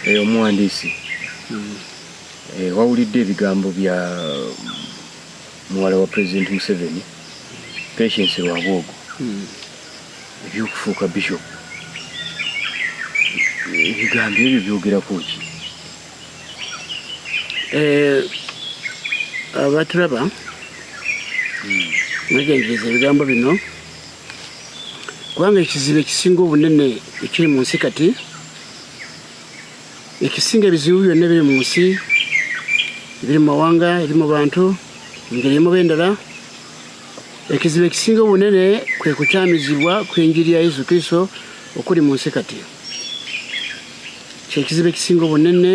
Eh, omuwandiisi mm. eh, wawulidde ebigambo bya muwala wa pulezidenti museveni patience lwabwogo mm. ebyokufuuka bishop ebigambo ebyo byogerako ki eh, abatulaba mm. mwegendereza ebigambo bino kubanga ekizibu ekisinga obunene ekiri mu nsi kati ekisinga ebizibu byonna ebiri mu nsi ebiri mu mawanga eri mu bantu engeri emuba endala ekizibu ekisinga obunene kwe kukyamizibwa kw'enjiri ya yesu kristo okuli mu nsi kati kyekizibu ekisinga obunene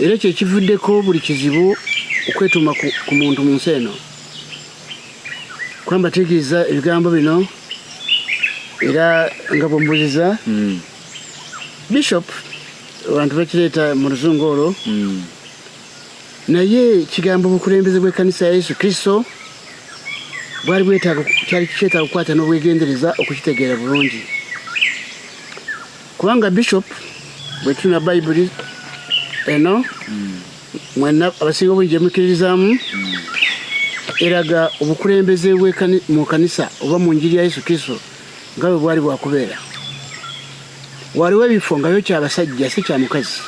era kyekivuddeko buli kizibu okwetuuma ku muntu mu nsi eno kwamba tegeeza ebigambo bino era nga bwembuziza hmm. bishop abantu bakireeta mu luzungu olwo hmm. naye kigambo obukulembeze bw'ekkanisa ya yesu kristo bwali bwetaaga kyali kyetaaga okukwata n'obwegendereza okukitegeera bulungi kubanga bishop bwe tuna bayibuli eno hmm. mwena abasinga obungi gye mukkiririzaamu hmm. eraga obukulembeze mu kanisa oba mu njiri ya yesu kristo nga bwe bwali bwakubeera waliwo ebifo nga yo kyabasajja si kya mukazi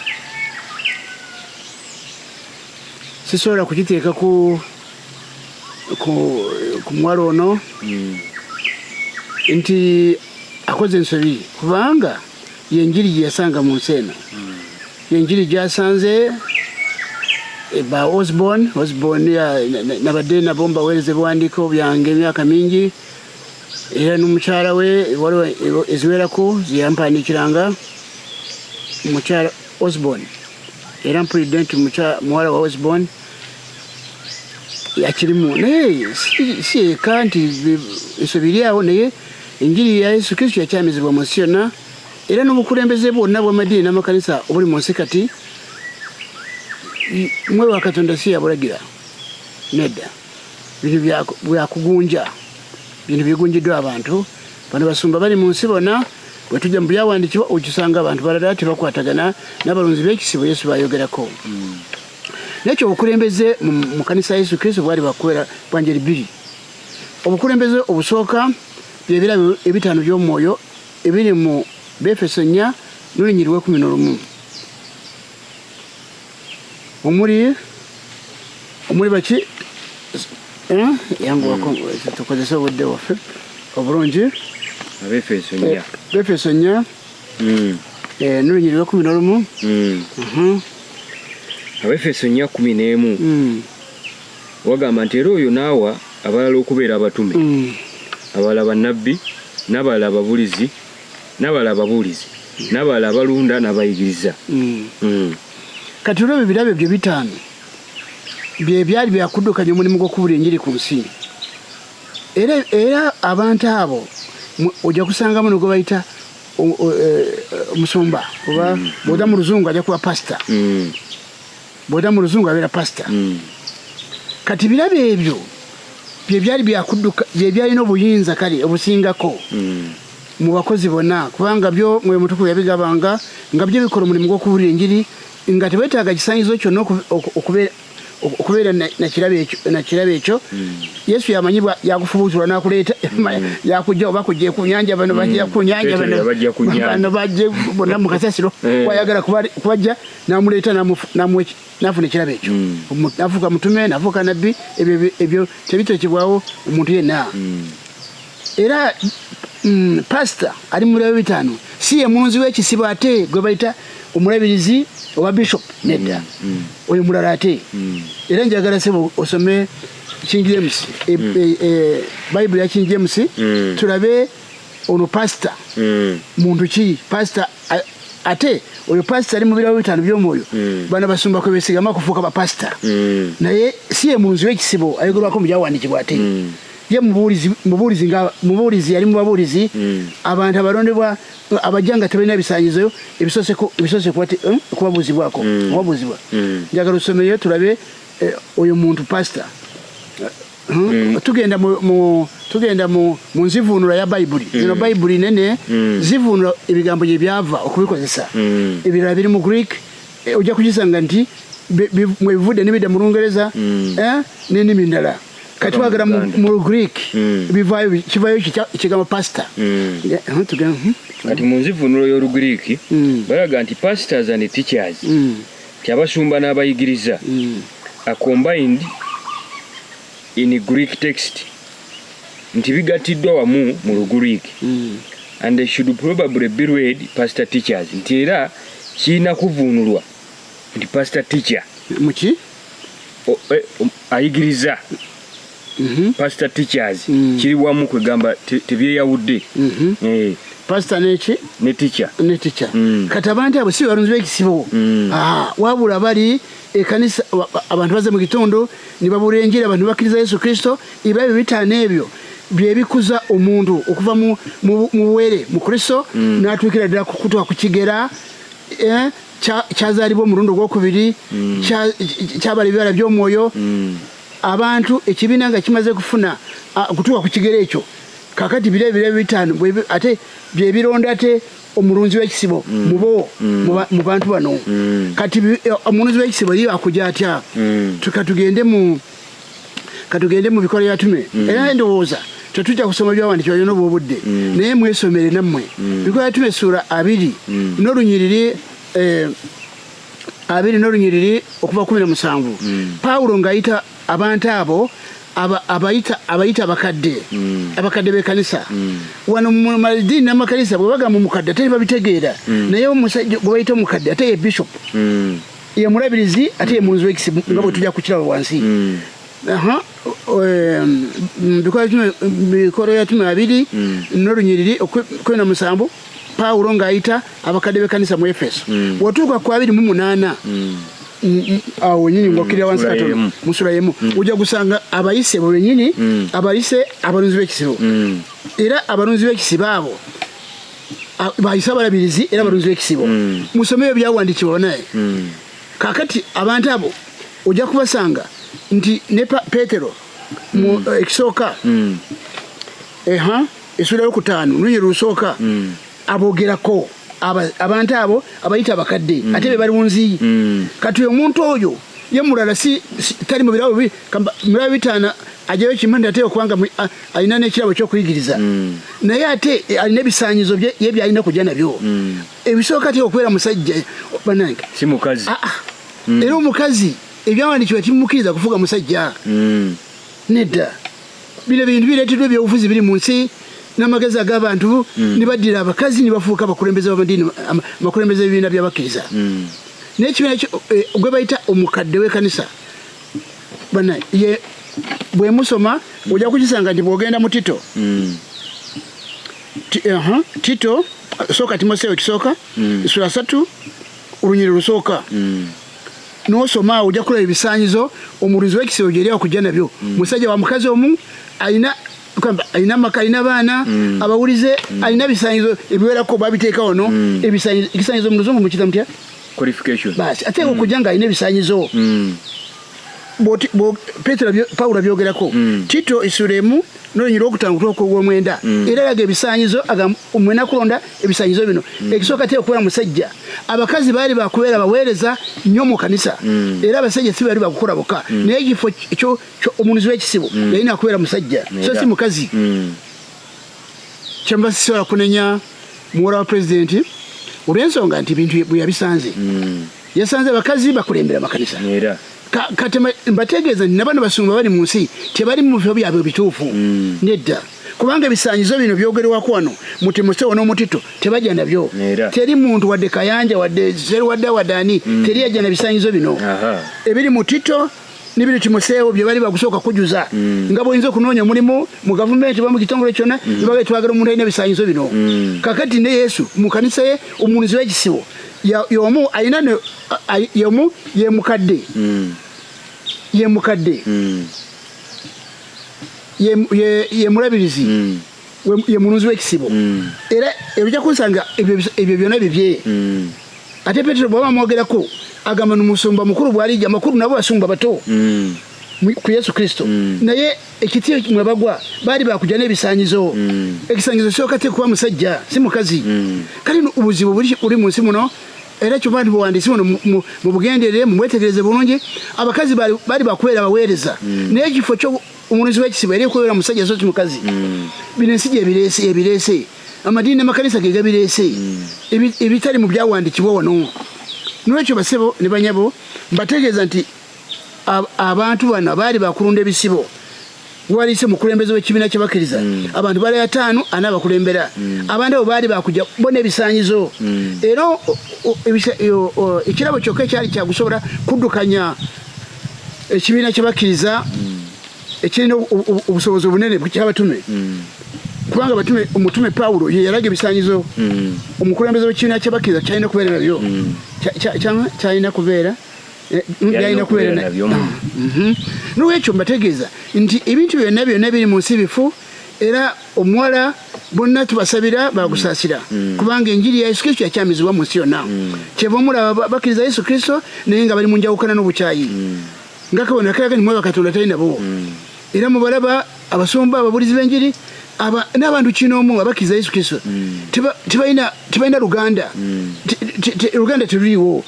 sisobola kukiteeka ku ku muwala ono hmm. nti akoze ensobi kubanga yenjiri gye yasanga mu nsi eno hmm. yenjiri gyasanze eh, ba osborn osborn nabadde nabo mbaweereza ebiwandiiko byange emyaka mingi era n'omukyala we waliwo eziwerako zeyampandiikiranga mukyala osborn era mpulidde nti muwala wa osborn yakirimu naye si eka nti ensobi eri awo naye enjiri ya yesu kristo yakyamizibwa mu nsi yonna era n'obukulembeze bwonna bw'amadiini n'amakanisa obuli mu nsi kati mwe wa katonda si yabulagira nedda bintu byakugunja bintu bigunjiddwa abantu bano basumba bali mu nsi bona bwe tujja mu byawandiikibwa okisanga abantu balala tebakwatagana n'abalonzi b'ekisibo yesu bayogerako hmm. nekyo obukulembeze mu kanisa ya yesu kristo bwali bakubeera bwanjeri bbiri obukulembeze obusooka byebirabo ebitaano by'omwoyo ebiri mu befeso nnya n'olunyiri lw'ekumi n'olumu omuli omuli baki eh? yanguwako hmm. tukozese obudde waffe obulungi abefeso nya befeso eh, nya hmm. eh, nolunyiri lwa kumi nolumu hmm. abefeso nya kumi n'emu wagamba nti era oyo naawa abalala okubeera abatume abalala bannabbi n'abalala ababulizi n'abalala ababuulizi n'abalala abalunda n'abayigiriza mm. Mm. kati olwo ebyo birabo ebyo bitaano bye byali byakuddukanya omulimu gw'okubula enjiri ku nsi era era abantu abo ojja kusangamu ne gwe bayita e, omusumba oba mm. bwoda mu luzungu ajja kuba pasita bwoda mu luzungu abeera pasita kati birabo ebyo bye byali byakuddukanya bye byalina obuyinza kale obusingako mu bakozi bonna kubanga byo mwoyo mutukuvu yabigabanga nga byo bikola omulimu gw'okubuulira enjiri nga tebetaaga kisanyizo kyonna okubeera nakirabo ekyo hmm. yesu yamanyibwa yakufubuutulwa nakuleeta hmm. yakujja oba kujja kunyanja bano bajja hmm. kunyanja bano bajje bonna mukasasiro eh. wayagala kubajja namuleeta namuwa nafuna ekirabo ekyo mm. nafuuka mutume nafuuka nabbi ebyo tebitekebwawo omuntu yenna mm. era mm, pasita ali mulayo bitaano si ye munzi w'ekisibo ate gwe bayita omulabirizi owa bishop nedda oyo mulala ate era njagala sebo osome king james e, e, e, bayibuli ya king james tulabe ono pasita mm. muntu ki pasita ate oyo pasita ali mubirawo bitano byomwoyo mm. bana basumba kwebesigama kufuuka bapasita mm. naye si ye munzi wekisibo ayogerwako mubyawandikibwa ate ye mubuulizi yali mubabuulizi abantu abalondebwa abajja nga tebalina bisanyizo ebisose eh, kubabuuzibwako kubabuuzibwa njagala osomeyo tulabe eh, oyo muntu pasita Hmm? Mm. tugenda mu, mu tugenda mu, mu nzivuunula ya bayibuli mm. zino bayibuli nene mm. zivuunula ebigambo gye byava okubikozesa mm. ebirala biri mu greek e, ojja kukisanga nti mwebivudde nebidda mu lungereza mm. eh, nenimi ndala kati twagala mu greek mm. bivayo kivayo ekigambo pasita mm. eh, hmm? kati mu nzivuunula y'olugreek mm. balaga nti pastors and teachers mm. nti abasumba n'abayigiriza are combined in Greek text nti bigattiddwa wamu mu Lugriiki and they should probably be read pastor teachers nti era kirina kuvuunulwa nti pastor teacher muki eh, um, ayigiriza mhm. pastor teachers mm. kiri wamu kwegamba tebyeyawudde mhm. eh. pastor neki ne teacher ne teacher mm. kati abantu abo si balunzi b'ekisibo mm. ah, wabula bali ekanisa abantu baze mu kitundu ne babuula enjiri abantu bakkiriza yesu kristo iba ebyo bitaano ebyo byebikuza omuntu okuva mu buwere mu kristo mm. n'atuukira ddala kukutwa ku kigera eh, kyazaalibwa omulundi ogwokubiri mm. kyabala ebibala by'omwoyo mm. abantu ekibiina nga kimaze kufuna okutuuka ku kigero ekyo kakati biro ebiro ebitaano ate byebironda ate omulunzi wekisibo mm. mubo mm. mu bantu bano mm. kati eh, omulunzi wekisibo ye akuja atya katugende mu katugende mu bikola yatume era endowooza tetujja kusoma byawandi kyoyona obwo obudde naye mwesomere nammwe bikola yatume esuula abiri n'olunyiriri eh, abiri n'olunyiriri okuva kumi na musanvu hmm. pawulo ng'ayita abantu abo abayita abakadde hmm. abakadde b'ekanisa hmm. wano mumadiini n'amakanisa bwe bagamba omukadde ate babitegeera naye omusajja gwe bayita omukadde ate ye bishop ye mulabirizi ate ye mulunzi w'ekisibu nga bwe tujja kukiraba wansi bikolo ya tumi abiri mm. nolunyiriri kumi na musanvu pawulo ng'ayita abakadde b'ekkanisa mu efeso mm. wotuuka ku abiri mu munaana mm. awo wenyini ngokirira wansi katono musula yemu ojja gusanga abayise bo benyini abayise abalunzi b'ekisibo era abalunzi b'ekisibo abo bayise abalabirizi era abalunzi b'ekisibo musomeyo byawandiikibwa naye kakati abantu abo ojja kubasanga nti ne petero mm. eh, ekisooka mm. eha esula yokutaano nunye lusooka mm. abogerako abantu abo abayita abakadde mm. ate be bali munziyi mm. kati omuntu oyo ye mulala si tali mubirabo mulaba bitaana ajayo kimu nti ate okubanga alina nekirabo kyokuyigiriza mm. naye ate eh, alina ebisanyizo bye byalina kujja nabyo mm. ebisooka ti okubeera musajja banange si mukazi ah, ah. Mm. era omukazi ebyawandikiwa timumukiriza kufuga musajja mm. nedda bino bintu bireetedwa ebyobufuzi biri mu nsi n'amagezi ag'abantu mm. nibaddira abakazi nibafuuka abakulembeze bamadiini abakulembeze b'ebibiina by'abakkiriza naye ekibiina eh, gwe bayita omukadde w'ekanisa bana bwemusoma ojja kukisanga nti bwogenda mu tito uh-huh. tito sooka timoseewo ekisooka mm. sula satu olunyiri lusooka mm. nosoma awo ojja kulaba ebisaanyizo omulunzi w'ekisero gyeri akujja nabyo mm. musajja wa mukazi omu alina alina amaka alina abaana mm. abawulize mm. alina ebisaanyizo ebiwerako babiteeka wano mm. ekisaanyizo mu luzungu mukita mutya basi ate mm. okujja nga alina ebisaanyizo mm. petero pawulo abyogerako mm. tito esula emu nolunyi lwokutano kutuka kwogwomwenda mm. era laga ebisanyizo mwena kulonda ebisanyizo bino mm. ekisooka tera okubeera musajja abakazi baali bakubeera baweereza nnyo mu kanisa era abasajja si baali bakukola boka naye ekifo omunuzi wekisibo yalina akubeera musajja so si mukazi kyemuba sisobola kunenya muwala wa pulezidenti olwensonga nti bintu bweyabisanze yasanze abakazi bakulembera makanisa era kati mbategeeza nti nabano basumba bali mu nsi tebali mu bifo byabwe bituufu mm. nedda kubanga ebisanyizo bino byogerwako wano muti musewo n'omutito tebajja nabyo teri muntu wadde kayanja wadde seruwadda wadde ani mm. teri yajja na bisanyizo bino ebiri mutito n'ebintu kimuseewo bye bali bakusooka kujuza mm. nga bwoyinza okunoonya omulimu mu gavumenti oba mu kitongole kyonna mm. nebaga twagala omuntu alina ebisanyizo bino mm. kakati ne yesu mu kanisa ye omunuzi w'ekisibo yomu alina yomu yemukadde yemukadde yemulabirizi ye mulunzi w'ekisibo mm. era ebijja kunsanga ebyo byona bibye mm. ate petero bwaba amwogerako agamba nomusumba mukulu bwalija amakulu nabo basumba bato mm. ku yesu kristo naye ekitiyo mwebagwa baali bakuja n'ebisanyizo ekisanyizo kyoka tekuba musajja si mukazi kale obuzibu buli mu nsi muno era kyoba nti buwandiisi buno mu bugenderere mubwetegereze bulungi abakazi baali bakubeera baweereza naye ekifo omunuzi wekisibo era ekwewera musajja sosi mukazi mm. bino ensi gyebirese ebirese amadiini namakanisa gegabirese mm. ebitali mu byawandikibwa wano nolwekyo basebo ne banyabo mbategeeza nti abantu bano abaali bakulunda ebisibo waliise mukulembeze wekibiina kyabakiriza mm. abantu bali ataano ana abakulembera abantu abo baali bakuja bo nebisanyizo era ekirabo kyokka ekyali kyakusobola kuddukanya ekibiina kyebakkiriza ekirina obusobozi obunene kyabatume mm. kubanga batume omutume pawulo ye yalaga ebisanyizo mm. omukulembeze wekibiina kyebakkiriza kyalina kubeera nabyo mm. kyalina kubeera eh, byalina kubeera nabyo ah, mhm. nolwekyo mbategeeza nti ebintu byonna byonna biri mu nsi bifu era omuwala bonna tubasabira bakusasira mm. mm. kubanga enjiri ya yesu kristo yakyamizibwa mu nsi yonna mm. kyeva omulaba bakkiriza yesu kristo naye nga bali mu njawukana n'obukyayi mm. nga kabona kalaga nimweba katonda tali nabo mm. era mubalaba abasumba ababulizi b'enjiri n'abantu kinoomu abakkiriza yesu kristo mm. tebalina luganda mm. luganda teruliwo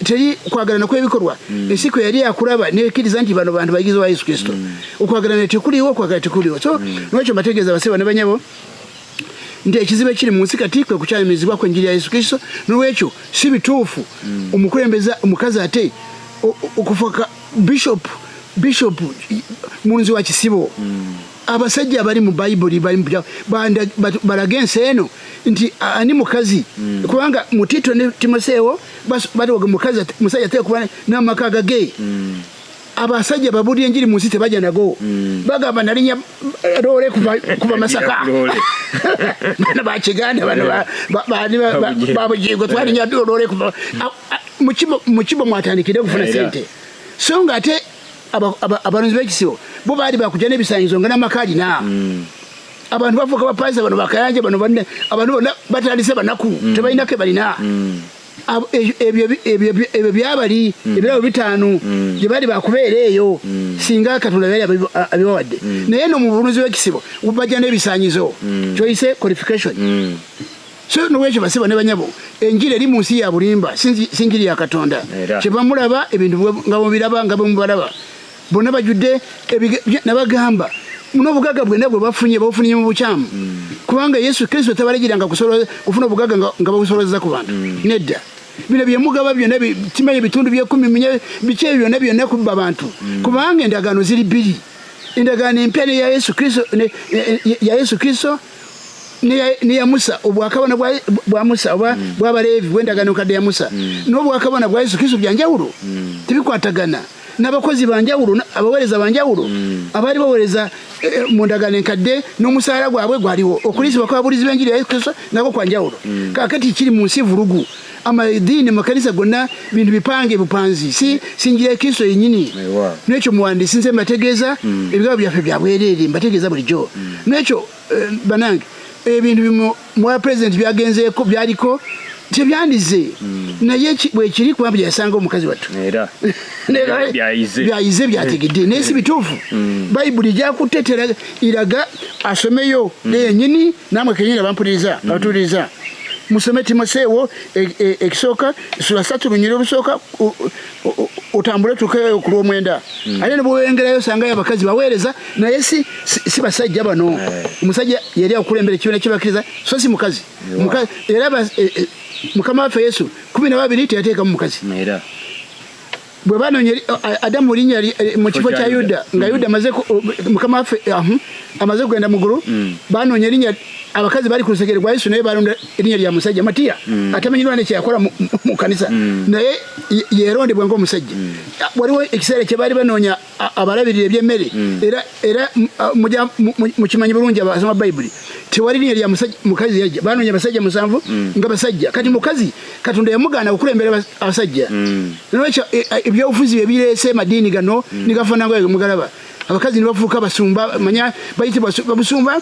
teri kwagalana kwebikolwa mm. ensi kwe yali akulaba nekiriza nti bano bantu bayigizi wa yesu kristo mm. okwagalana tekuliwo okwagala tekuliwo so mm. nwekyo mbategeeza base bane banyabo nti ekizibu ekiri mu nsi kati kwe kukyamirizibwa ku enjiri ya yesu kristo nolwekyo si bituufu omukulembeza omukazi ate okufuka bishop bishop mulunzi wa kisibo mm. abasajja abali mu bayibuli balaga ensi eno nti ani mukazi mm. kubanga mu tito ne timoseewo batoga mukazi musajja ateeka kuba n'amaka agage mm. abasajja babulira enjiri mu nsi tebajja nago mm. bagamba nalinya loole kuva masaka bana bakiganda bano babujigo twalinya loole kuva mukibo mwatandikire okufuna sente so nga ate abalunzi b'ekisibo bo baali bakujja n'ebisanyizo nga n'amaka alina hmm. abantu bafuuka bapansa bano bakayanja bano banne abantu bonna batandise banaku hmm. tebalina ke balina hmm. ebyo byabali ebirabo bitaano gye baali bakubeera eyo singa katonda yali abibawadde naye no mu bulunzi bw'ekisibo bajja n'ebisanyizo kyoyise qualification so nolwekyo basebo ne banyabo enjiri eri mu nsi ya bulimba si njiri ya katonda kyebamulaba ebintu nga bwemubiraba nga bwemubalaba bonna bajjudde nabagamba nobugaga bwena bwe bafunye babufunye mu bukyamu mm. kubanga yesu kristo tabalagiranga kufuna obugaga nga babusolozeza ku bantu mm. nedda bino byemugaba byona kimanya ebitundu byekumi munye biki ebyo byona byona kubba bantu mm. kubanga endagaano ziri bbiri endagaano empya ne ya yesu kristo neya musa obwakabona bwa musa oba mm. bwabaleevi bwendagano kadde ya musa mm. nobwakabona bwa yesu kristo byanjawulo mm. tebikwatagana nabakozi banjawulo abawereza banjawulo abaali bawereza eh, eh, mu ndagano enkadde nomusaala gwabwe gwaliwo okuliisibwa kwabulizi benjiri ya yesu kristo nako kwanjawulo kakati kiri mu nsi vulugu amadini amakanisa gonna bintu bipange bupanzi si sinjira ya kristo yenyini nekyo muwandisi nze mbategeeza mm. ebigabo byaffe byabwerere mbategeeza bulijjo mm. nekyo eh, banange ebintu bimu mwa president byagenzeeko byaliko tebyandize mm. naye bwekiri kuba byeyasanga omukazi wattu byayize byategedde naye si bituufu bayibuli gyakutetera iraga asomeyo neyenyini namwe kenyini abampuliriza mm. abatuuliriza musome timoseewo e, e, ekisooka sula satu lunyira olusooka otambule tuke ku lwomwenda mm. ate nebwewengerayo osangayo abakazi baweereza naye si, si, si basajja bano eh. omusajja yali akukulembera ekibiina kyebakkiriza so si mukazi era e, mukama waffe yesu kumi nababiri teyateekamu mukazi bwe banonye adamu linnya mu kifo kya yuda nga yuda amaze mukama waffe amaze kugenda mu ggulu mm. banoonya erinnya abakazi bali ku lusegere gwa yesu naye balonda erinnya lya musajja matiya mm. atamanyirwa ne kyeyakola mu kanisa mm. naye yerondebwa ngaomusajja waliwo ekiseera kye baali banoonya abalabirira eby'emmere hmm. era era mukimanyi bulungi abasoma bayibuli tewali linya lya mukazi yajja banoonya abasajja musanvu hmm. nga basajja kati hmm. mukazi katonda yamugaana okukulembera abasajja nolwekyo e, e, ebyobufuzi bye bireese madiini gano nigafanangayo mugalaba abakazi nibafuuka basumba manya bayitibwa babusumba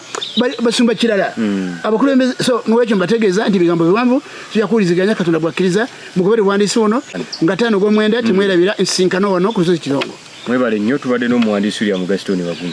basumba kirala abakulembeze so nolwekyo mbategeeza nti ebigambo biwanvu tujakuwuliziganya katonda bwakkiriza mugobere buwandiisi buno nga taano gw'omwenda temwerabira ensisinkano wano ku lusozi kirongo mwebale nnyo tubadde n'omuwandiisi william gaston bagumu